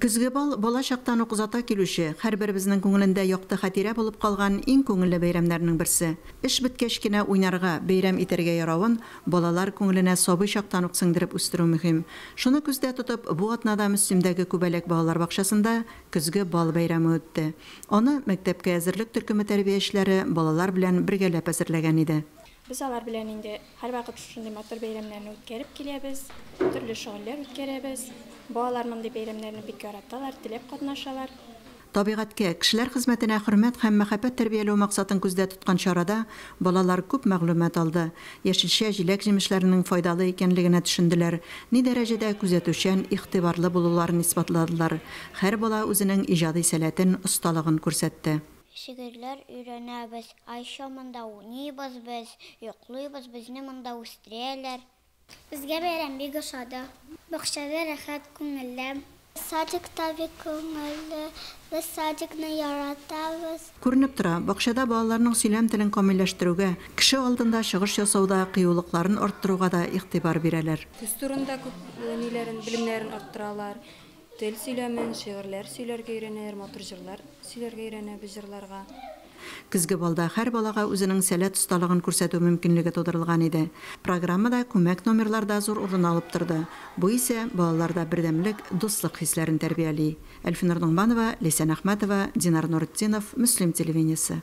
Көзге бал, бала чактан ук озата килүче, һәрберебезнең күңелендә якты хатирә булып калган иң күңелле бәйрәмнәрнең берсе. Эш беткәч кенә уйнарга, бәйрәм итәргә яравын балалар күңеленә сабый чактан ук сеңдереп үстерү мөһим. Шуны күздә тотып, бу атнада Мөслимдәге Күбәләк балалар бакчасында Көзге бал бәйрәме үтте. Аны мәктәпкә әзерлек төркеме тәрбиячеләре балалар белән бергәләп әзерләгән иде. Без алар белән инде һәрвакыт шушындый матур бәйрәмнәрне үткәреп киләбез, төрле шөгыльләр үткәрәбез. Балалар мондый бәйрәмнәрне бик яраталар, теләп катнашалар. Табигатькә, кешеләр хезмәтенә хөрмәт һәм мәхәббәт тәрбияләү максатын күздә тоткан чарада балалар күп мәгълүмат алды, яшелчә, җиләк-җимешләрнең файдалы икәнлегенә төшенделәр, ни дәрәҗәдә күзәтүчән, игътибарлы булуларын исбатладылар, һәр бала үзенең иҗади сәләтен, осталыгын күрсәтте. Шигырьләр өйрәнәбез, ай чамында уйныйбыз без, йоклыйбыз, безне монда үстерәләр. Безгә бәйрәм бик ошады. Бакчада рәхәт, күңелле. Садикта бик күңелле. Без садикны яратабыз. Күренеп тора, бакчада балаларның сөйләм телен камилләштерүгә, кеше алдында чыгыш ясауда кыюлыкларын арттыруга да игътибар бирәләр. Төс турында күп ниләрен, белемнәрен арттыралар. Тел сөйләмен, шигырьләр сөйләргә өйрәнәләр, матур җырлар сөйләргә өйрәнә без җырларга. Көзге балда һәр балага үзенең сәләт осталыгын күрсәтү мөмкинлеге тудырылган иде. Программада күмәк номерлар да зур урын алып торды. Бу исә балаларда бердәмлек, дуслык хисләрен тәрбияли. Әлфинур Ноңманова, Ләйсән Әхмәтова, Динар Нуретдинов, Мөслим телевидениесе.